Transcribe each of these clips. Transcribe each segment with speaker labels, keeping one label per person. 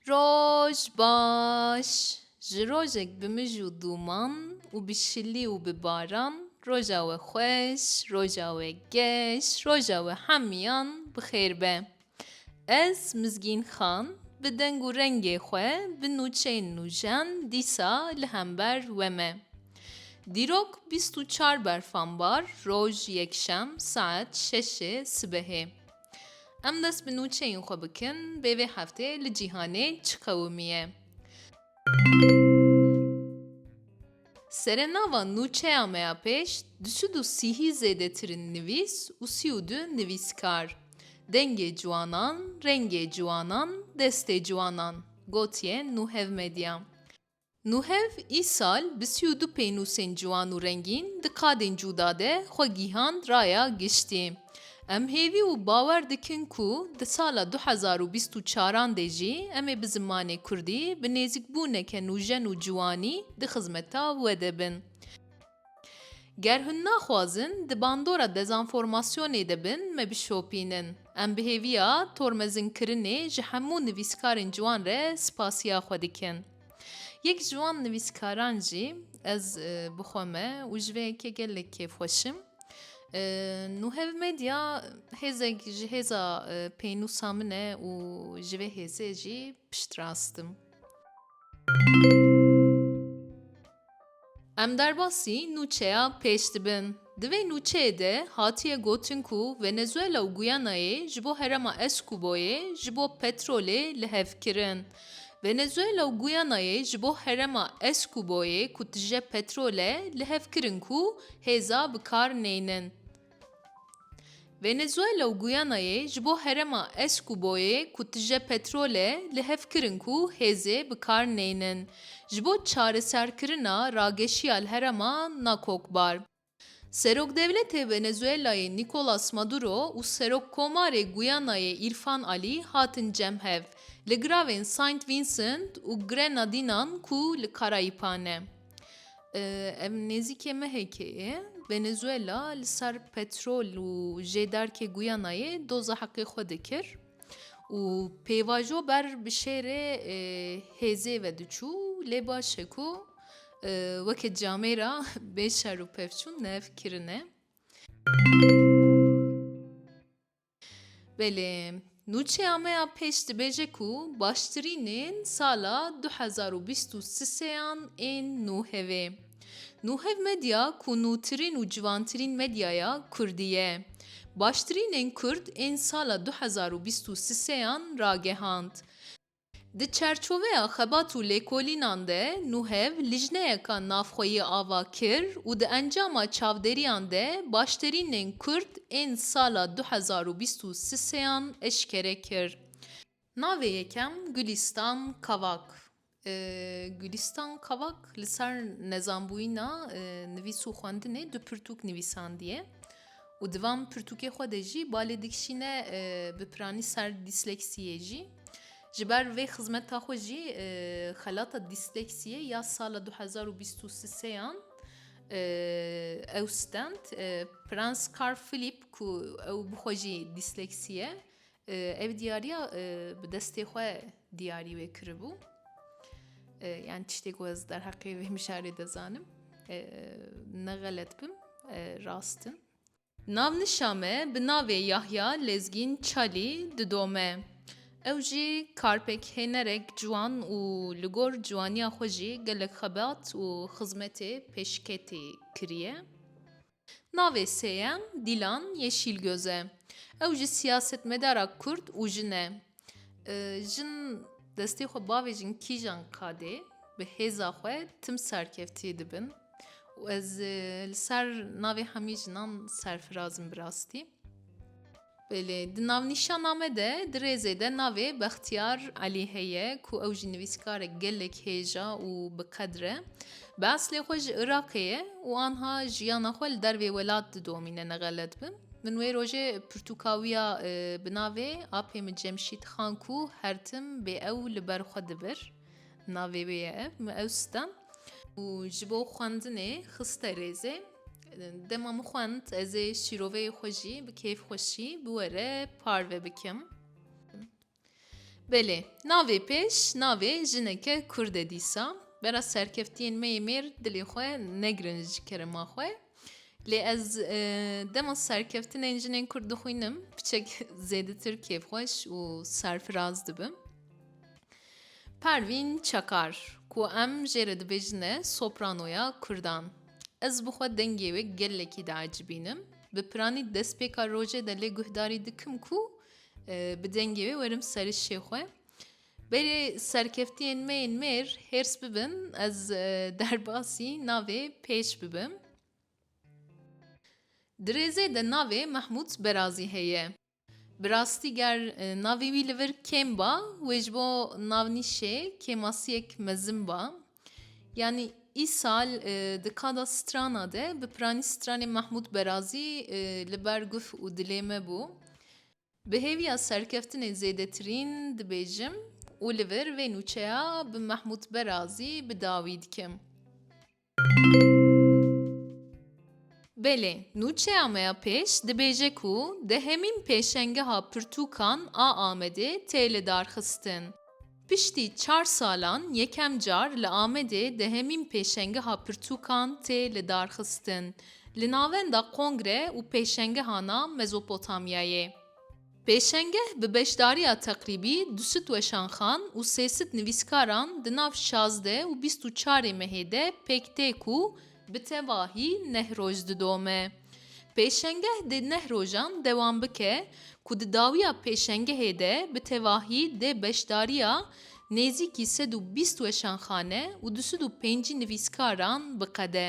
Speaker 1: Roj baş. Ji rojek bi mij û dûman û bi şilî û bi baran roja we xweş, roja we geş, roja we hemiyan bi xêr be. Ez Mizgîn Xan bi deng û rengê xwe bi nûçeyên nûjen dîsa li hember we me. Dîrok bîst û çar berfambar roj yekşem saet şeşê sibehê. Em dest bi nûçeyên xwe bikin bê vê heftê li cîhanê çi qewimiye. Serê nava nûçeya me ya pêş di sid û sîhî zêdetir in nivîs û sî û du nivîskar. Dengê ciwanan, rengê ciwanan, destê ciwanan gotiye Nuhevmedya. Nuhev îsal bi sî û du pênûsên ciwan û rengîn di qadên cûda de xwe gîhand raya giştî. Em hêvî û bawer dikin ku di sala du hezar û bîst û çar an de jî em ê bi zimanê kurdî bi nêzîkbûneke nûjen û ciwanî di xizmeta we de bin. Ger hûn naxwazin di bandora dezanformasyonê de bin me bişopînin. Em bi hêviya tormezinkirinê ji hemû nivîskarên ciwan re spasiya xwe dikin. Yek ji wan nivîskaran jî ez bi xwe me û ji vê yekê gelek kêfxweşim. Nuhev Medya hêzek ji hêza pênûsa min e û ji vê hêzê jî piştrast im. Em derbasî nûçeya pêş dibin. Di vê nûçeyê de hatiye gotin ku Venezuela û Guyanayê ji bo herema Eskuboyê ji bo petrolê li hev kirin. Venezuela û Guyanayê ji bo herema Eskuboyê ku tije petrol e li hev kirin ku hêza bi kar neynin. Venezuela û Guyanayê ji bo herema Escuboyê ku tije petrol e li hev kirin ku hêzê bi kar neynin ji bo çareserkirina rageşiya li herema Nakokbar. Serokdevletê Venezuelayê Nicolas Maduro û Serokkomarê Guyanayê Irfan Alî hatin cem hev li giravên Saint Vincent û Grenadinan ku li Karayîpan e. Ev nêzîkê mehekê ye. Venezuela li ser petrol û jêdarkê Guyanayê doza heqê xwe dikir û pêvajo ber bi şêrê hêzê ve diçû lê baş e ku weke camê ra bê şer û pevçûn nev kirine. Belê, nûçeya me ya pêş dibêje ku baştirînên sala du hezar û bîst û siseyan ên nû hevê. Nû hev medya ku nûtirîn û civantirîn medyaya kurdî ye. Baştirînên kurd ên sala du hezar û bîst û siseyan ragehand. Di çerçoveya xebat û lêkolînan de Nuhev lijneyeka navxweyî ava kir û di encama çavdêriyan de başterînên Kurd ên sala du hezar û bîst û siseyan eşkere kir. Navê yekem Gulîstan Kavak e. Gulîstan Kavak li ser nezanbûyîna nivîs û xwendinê du pirtûk nivîsandiye. Û di van pirtûkê xwe de jî balê dikişîne bi piranî ser dîsleksiyê jî. Ji ber vê xizmeta xwe jî xelata dîsleksiyê ya sala du hezar û bîst û seyan ew stend. Prens Carl Philippe ku ew bi xwe jî dîsleksî ye, Ev diyariya bi destê xwe diyarî wê kiribû. Yani tiştê ku ez derheqê vê mijarê de zanim. Ne xelet bim, rast im. Navnişa me bi navê Yahya Lezgîn Çalî didome. Ew jî karpekhênerek ciwan û li gor ciwaniya xwe jî gelek xebat û xizmetê pêşketî kiriye. Navê sêyem Dîlan Yeşîlgöz e. Ew ji siyasetmedara Kurd û jin e. Jin destê xwe bavêjin kîjan qadê bi hêza xwe tim serkevtiyê dibin û ez li ser navê hemî jinan serfiraz im bi rastî. Belê, di navnîşana me de di rêzê de navê Bextiyar Elî heye ku ew jî nivîskarek gelek hêja û bi qedir e. Bi eslê xwe ji Iraqê ye û anha jiyana xwe li dervê welat didomîne ne xelet bim. Min wê rojê pirtûkawiya bi navê Apê min Cemşîd Xan ku her tim bê ew li ber xwe dibir navê wê ye ev, min ew stem û ji bo xwendinê xiste rêzê. Dema min xwend ez ê şîroveyê xwe jî bi kêf xweşî bi we re parve bikim. Belê, navê pêş navê jineke kurd e dîsa. Bera serkeftiyên me yê mêr dilê xwe negirin ji kerema xwe. Lê ez dema serkeftinên jinên kurd dixwînim piçek zêdetir kêfxweş û serfiraz dibim. Pervîn Çakar, ku em jê re dibêjine sopranoya kurdan. Ez bi xwe dengê wê gelekî diecibînim. Bi piranî destpêka rojê de lê guhdarî dikim ku bi dengê wê werim serişê xwe. Berê serkeftiyên me yên mêr hêrs bibin ez derbasî navê pêş bibim. Di rêzê de navê Mehmûd Berazî heye. Bi rastî ger navê wî li vir kêm ba, wê ji bo navnîşê kêmasiyek mezin ba. Yanî îsal di kada strana de bi piranî stranê Mehmûd Berazî li ber guf û dilê me bû. Bi hêviya serkeftinê zêdetirîn dibêjim û li vir vê nûçeya bi Mehmûd Berazî bi dawî dikim. Belê, nûçeya me ya pêş dibêje ku di hemîn pêşengeha pirtûkan a Amedê tê lidarxistin. Piştî çar salan yekem car li Amedê di hemîn pêşengeha pirtûkan tê lidarxistin, li navenda Kongre û Pêşengeha na Mezopotamyayê. Pêşengeh bi beşdariya teqrîbî du sit weşanxan û sê sit nivîskaran di nav şazdeh û bîst û çarê mehê de pêk tê ku bi tevahî neh roj didome. Pêşengeh dê neh rojan dewam bike ku di dawiya pêşengehê de bi tevahî dê beşdariya nêzîkî sed û bîst weşanxane û du sed û pêncî nivîskaran biqede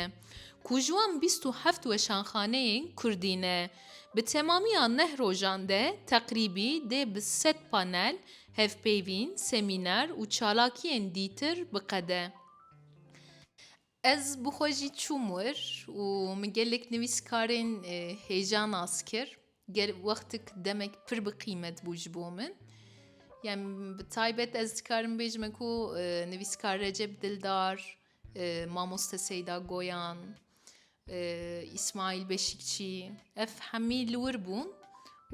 Speaker 1: ku ji wan bîst û heft weşanxaneyên Kurdî ne. Bi temamiya neh rojan de teqrîbî dê bi sed panel, hevpeyvîn, semîner û çalakiyên dîtir biqede. Ez bi xwe jî çûm wir û min gelek nivîskarên hêja nas kir. Gel wextik demek pir bi qîmet bû ji bo min. Yani bi taybet ez dikarim bêjime ku nivîskar Recep Dildar, mamoste Seyda Goyan, Îsmaîl Beşîkçî, Ev hemî li wir bûn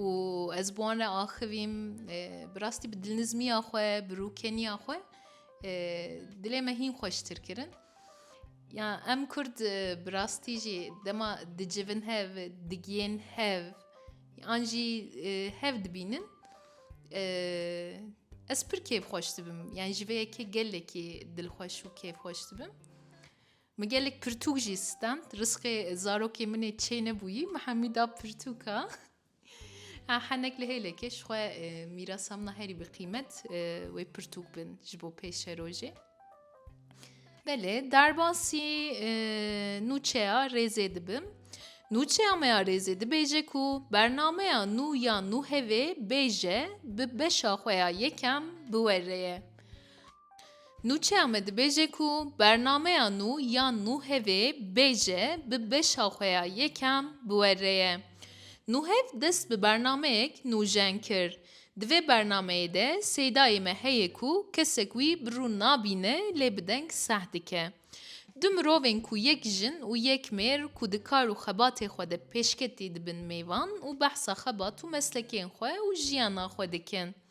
Speaker 1: û ez bi wan re axivîm. Bi rastî bi dilnizmiya xwe, bi rûkeniya xwe dilê me hîn xweştir kirin. Ya em Kurd bi rastî jî dema dicivin hev, digiyên hev an jî hev dibînin ez pir kêfxweş dibim. Yan ji vê yekê gelekî dilxweş û kêfxweş dibim. Min gelek pirtûk jî stend. Risqê zarokê min ê çê nebûyî, min hemî da pirtûka. Ha henek li hêlekê ji xwe mîrasa min a herî bi qîmet wê pirtûk bin ji bo pêşerojê. Belê derbasî nûçeya rêzê dibim. Nûçeya me ya rêzê dibêje ku bernameya nû ya nû hevê bêje bi beşa xwe ya yekem biwere ye. Nûçeya me dibêje ku bernameya nû ya Nûhevê bêje bi beşa xwe ya yekem bi we re ye. Nûhev dest bi bernameyek nûjen kir. Di vê bernameyê de Seydayê me heye ku kesek wî bi rû nabîne lê bi deng seh dike. Du mirovên ku yek jin û yek mêr ku di kar û xebatê xwe de pêşketî dibin mêvan û behsa xebat û meslekên xwe û jiyana xwe dikin.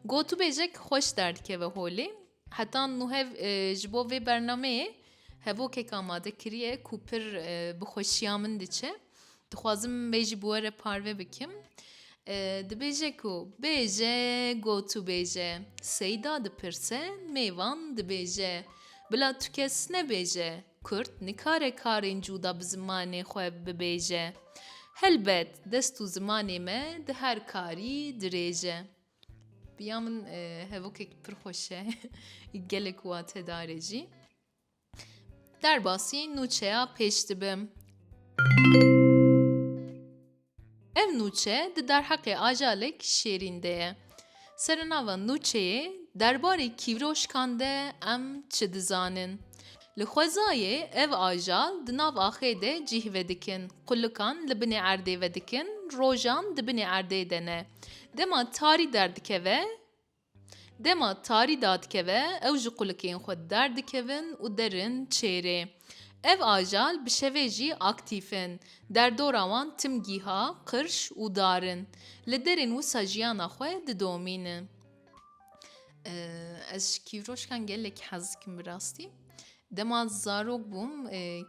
Speaker 1: Gotûbêjek xweş derdikeve holê. Heta nû hev ji bo vê bernameyê hevokek amade kiriye ku pir bi xweşiya min diçe. Dixwazim vê jî bi we re parve bikim. Dibêje ku bêje gotûbêje. Seyda dipirse mêvan dibêje. Bila tu kes nebêje. Kurd nikare karên cûda bi zimanê xwe bibêje. Helbet dest û zimanê me di her karî dirêj e. Bi ya min hevokek pir xweş e. Gelek wate dare jî. Derbasî nûçeya pêş dibim. Ev nûçe di derheqê Ajalek Şêrîn de ye. Serenava nûçeyê Derbarê kîvroşkan de em çi dizanin? Li xwezayê ev ajal di nav axê de cîh vedikin, qulikan li binê erdê vedikin, rojan di binê erdê de ne. Dema tarî derdikeve, Dema tarî dadikeve ew ji qulikên xwe derdikevin û derin çêrê. Ev ajal bi şevê jî aktîf in. Derdora wan tim gîha, qirş û dar in. Li derên wisa jiyana xwe didomînin. Ez ji kîvroşkan gelekî hez dikim bi rastî. Dema zarok bûm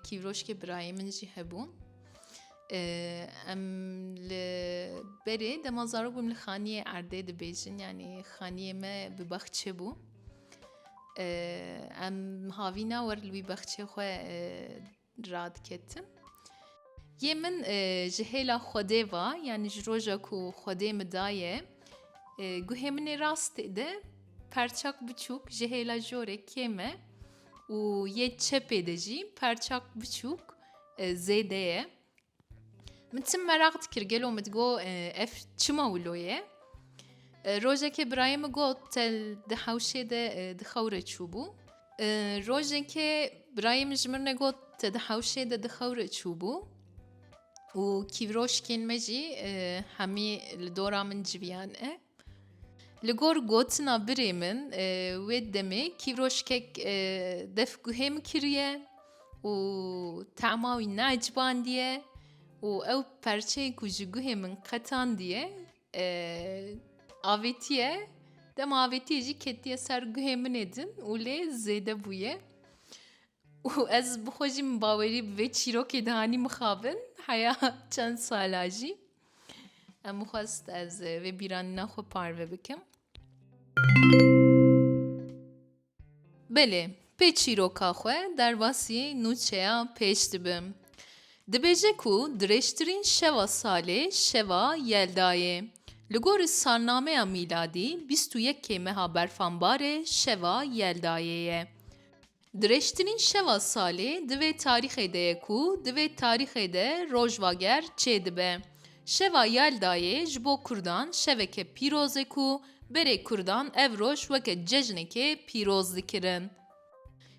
Speaker 1: kîvroşkê birayê min jî hebû. Em li berê dema zarok bûm li xaniyê erdê dibêjin yanî xaniyê me bi baxçe bû. Em havîna wer li wî baxçê xwe radiketin. Yê min ji hêla Xwedê va yanî ji roja ku Xwedê min daye. Guhê min ê rastê de perçak biçûk ji hêla jorê kêm e û yê çepê de jî perçak biçûk zêde ye. Min tim meraq dikir gelo min digot ev çima wilo ye. Rojekê birayê min got te di hewşê de di xewre çûbû. Rojekê birayê min ji min re got te di hewşê de di xewre çûbû. Û kîvroşkên me jî hemî li dora min civiyan e. Li gor gotina birê min wê demê kîvroşkek def guhê min kiriye û tema wî neecibandiye û ew perçeyê ku ji guhê min qetandiye avêtiye dema avêtiye jî ketiye ser guhê min ê din û lê zêde bûye. Û ez bi xwe jî min bawerî bi vê çîrokê dihanî mixabin heya çend sala jî. Em bixwest ez vê bîranîna xwe parve bikim. Belê, pê çîroka xwe derbasî nûçeya pêş dibim. Dibêje ku dirêjtirîn şeva salê şeva Yelda yê. Li gorî salnameya mîladî bîst û yekê meha berfanbarê şeva Yeldayê ye. Dirêjtirîn şeva salê di vê tarîxê de ye ku di vê tarîxê de rojvager çêdibe. Şeva Yeldayê ji bo kurdan şeveke pîroz e ku berê kurdan ev roj weke cejnekê pîroz dikirin.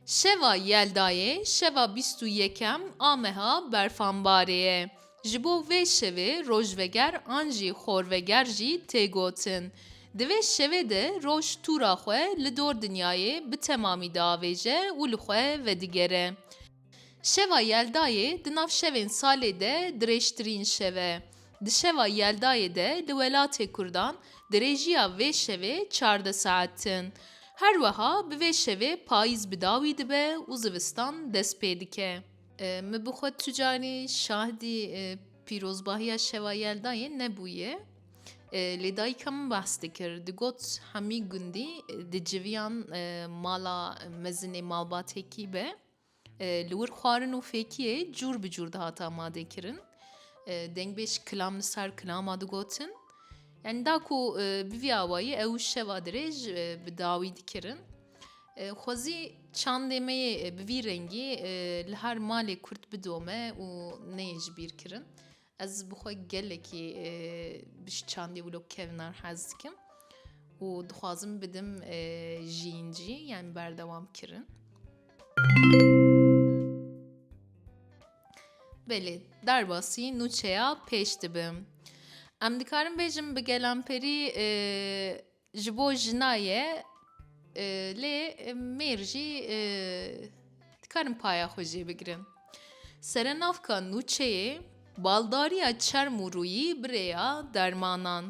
Speaker 1: Şeva Yeldayê şeva bîst û yekem a meha berfan barê ye. Ji bo vê şevê rojveger an jî xorveger jî tê gotin. Di vê şevê de roj tûra xwe li dor dinyayê bi temamî diavêje û li xwe vedigere. Şeva Yeldayê di nav şevên salê de dirêjtirîn şev e. Di şeva Yeldayê de li welatê Kurdan dirêjiya vê şevê çardeh saet in. Her weha bi vê şevê payîz bi dawî dibe û zivistan dest pê dike. Mi bi xwe tu carî şahidî pîrozbahiya şeva Yeldayê nebûye. Lê dayika min behs dikir digot hemî gundî di civiyan mala mezinê malbatêkî be li wir xwarin û fêkiyê cûr bi cûr dihate amadekirin. Dengbêj kilam li ser kilama digotin. Yani da ku bi vî awayî ew şeva dirêj bi dawî dikirin. Xwezî çandê me yê bi vî rengî li her malê kurt bidome û neyê ji bîr kirin. Ez bi xwe gelekî bi ji çandê wilo kevnar hez dikim û dixwazim bidim jiyîn jî yanî berdewam kirin. Belê derbasî nûçeya pêş dibim. Em dikarin bêjin bi gelamperî Ji bo jina ye lê mêr jî dikarin paya xwe jê bigirin. Serenavka nûçeyê, baldariya çerm û rûyî bi rêya dermanan,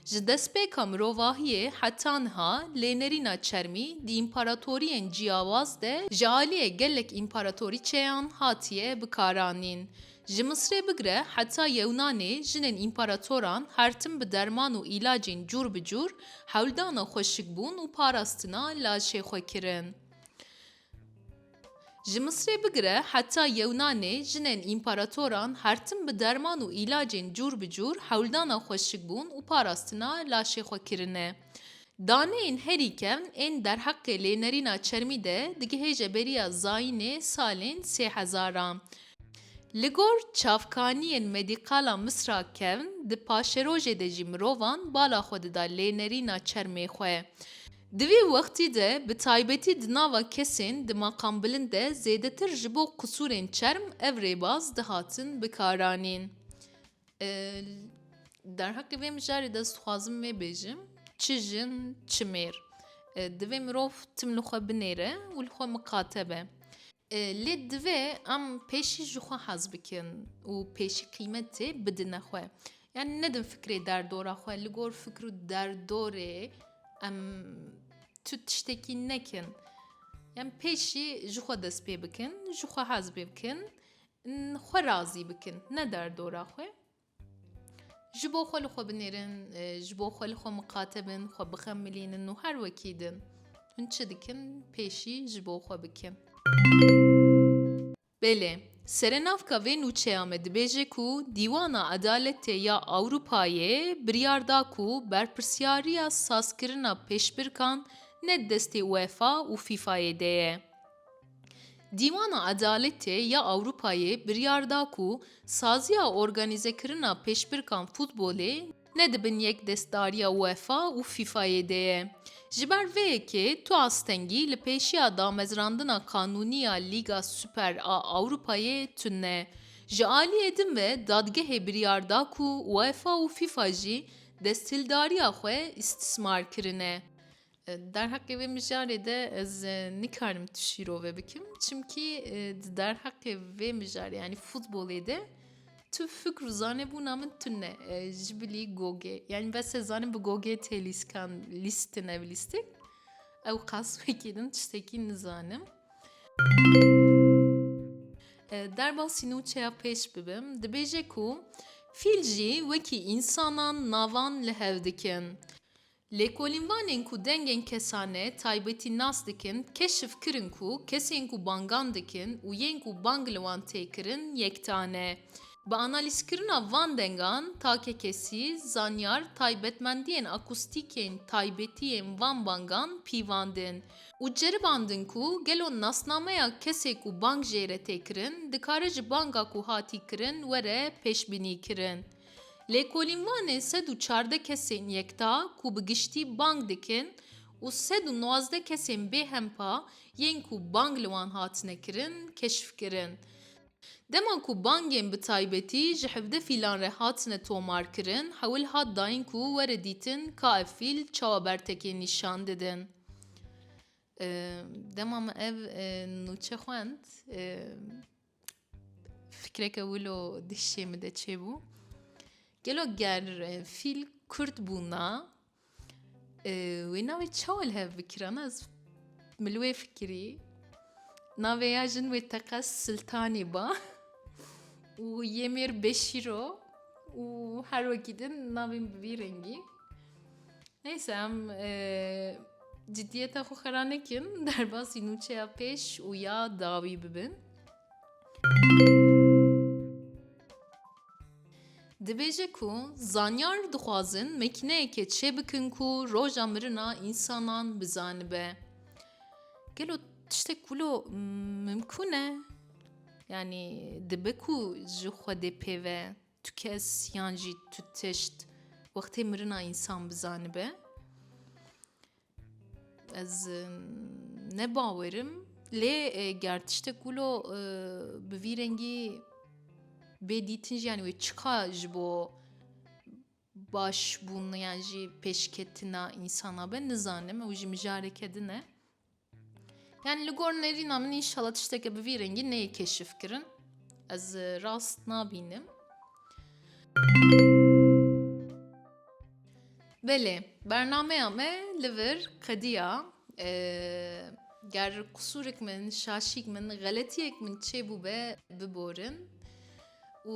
Speaker 1: ji destpêka mirovahiyê heta niha lênerîna çermî di împaratoriyên ciyawaz de ji aliyê gelek împaratorîçeyan hatiye bikaranîn. Ji Misrê bigire heta Yewnanê jinên împaratoran her tim bi derman û îlacên cûr bi cûr hewldana xweşikbûn û parastina laşê xwe kirin. Ji Misrê bigire heta Yewnanê jinên împaratoran her tim bi derman û îlacên cûr bi cûr hewldana xweşikbûn û parastina laşê xwe kirine. Daneyên herî kevn ên derheqê lênerîna çermî de digihêje beriya zayînê salên sê hezaran. Li gor çavkaniyên medîkala Misra kevn di paşerojê de jî mirovan bala xwe dida lênerîna çermê xwe. Di vî wextî de bi taybetî di nava kesên di maqambilind de zêdetir ji bo qisûrên çerm ev rêbaz dihatin bikaranîn. Derheqê vê mijarê de ez dixwazim vê bêjim çi jin çi mêr divê mirov tim li xwe binêre û li xwe miqate be. Lê divê em pêşî ji xwe hez bikin û pêşî qîmetê bidine xwe. Yani nedin fikrê derdora xwe li gor fikr û derdorê em tu tiştekî nekin. Em pêşî ji xwe dest pê bikin, ji xwe hez pê bikin. Xwe razî bikin, ne derdora xwe. Ji bo xwe li xwe binêrin, ji bo xwe li xwe miqate bin, xwe bixemilînin û her wekî din. Hûn çi dikin, pêşî ji bo xwe bikin. Belê, serenavka vê nûçeya me dibêje ku Dîwana Edaletê ya Ewropayê biryar da ku berpirsyariya sazkirina pêşbirkan ne di destê UEFA û FIFA'yê de ye. Dîwana Edaletê ya Ewropayê biryar da ku saziya organîzekirina pêşbirkan futbolê ne di bin yekdestdariya UEFA û FIFA'yê de ye. Ji ber vê yekê tu astengî li pêşiya damezrandina qanûnî ya Lîga Super a Ewropayê tune. Ji aliyê din ve dadgehê biryar da ku UEFA û FIFA jî desthildariya xwe îstismar kirine. Derheqê vê mijarê de ez nikarim tu şîrove bikim çimkî di derheqê vê mijarê yanî futbolê de tu fikr û zanebûna min tune ji bilî gogê yanî bes ez zanim bi gogê tê lîskan lîstin ev lîstik ew qas wekî din tiştekî nizanim. Derbasî nûçeya pêş bibim dibêje ku fîl jî wekî însanan navan li hev dikin. Lêkolînvanên ku dengên kesane taybetî nas dikin keşf kirin ku kesên ku bangan dikin û yên ku bang li wan tê kirin yekta ne. Bi analîzkirina van dengan, takekesî, zanyar taybetmendiyên akustîk yên taybetî yên van bangan pîvandin û ceribandin ku gelo nasnameya kesê ku bang jê re tê kirin dikare ji banga ku hatî kirin were pêşbînîkirin. Lêkolîn Wanê sed û çardeh kesên yekta ku bi giştî bang dikin û sed û nozdeh kesên bêhempa yên ku bang li wan hatine kirin keşf kirin. Dema ku bangên bi taybetî ji hevdeh fîlan re hatine tomarkirin hewil hat dayîn ku were dîtin ka ev fîl çawa bertekê nîşan didin. Dema min ev nûçe xwend. Fikreke wilo di hişê min de çêbû. Gelo ger fîl kurd bûna e, wê navê çawa li hev bikiran ez min li wê fikirî. Navê ya jin wê teqez Siltanî ba û yê mêr Beşîro û her wekî din navên bi vî rengî. Neyse em ciddiyeta xwe xera nekin derbasî nûçeya pêş û ya dawî bibin. Dibêje ku zanyar dixwazin mekîneyeke çê bikin ku roja mirina însanan bizanibe. Gelo tiştek wilo mimkûn e? Yanî dibe ku ji Xwedê pê ve. Tu kes yan jî tu tişt wextê mirina însan bizanibe? Ez ne bawer im lê e, ger tiştek wilo e, bi vî rengî bê dîtin jî yanî wê çiqa ji bo Baş bûn yan jî pêşketina însana be nizanim ew jî mijareke din e. Yani li gor nerîna min înşala tişteke bi vî rengî neyê keşif kirin. Ez e, rast nabînim. Belê, bernameya me li vir qediya e, ger qusûrek min, şaşîk min, xeletiyek min çêbû be biborin û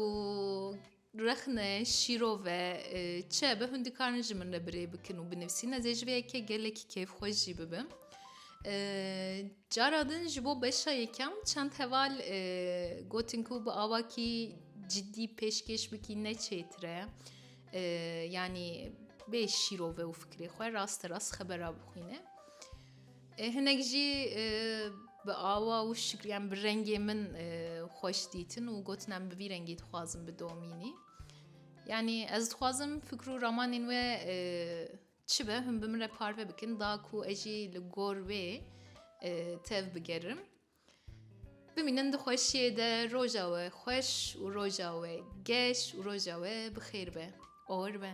Speaker 1: Rexne, şîro ve, çi be hûn dikarin ji min re birê bikin û binivîsîn ez ê ji vê yekê gelekî kêfxweş jî bibim. Cara din ji bo beşa yekem çend heval gotin ku bi awakî cidî pêşkêş bikî ne çêtir e. Yanî bê şîrove û fikrê xwe raste rast xebera bixwîne. Hinek jî bi awa wişk yan bi rengê min xweş dîtin û gotin em bi vî rengî dixwazin bidomînî. Yanî ez dixwazim fikr û ramanên we çi be hûn bi min re parve bikin da ku ez jî li gor wê tev bigerim. Bimînin di xweşiyê de roja we xweş û roja we geş û roja we bi xêr be. Or be.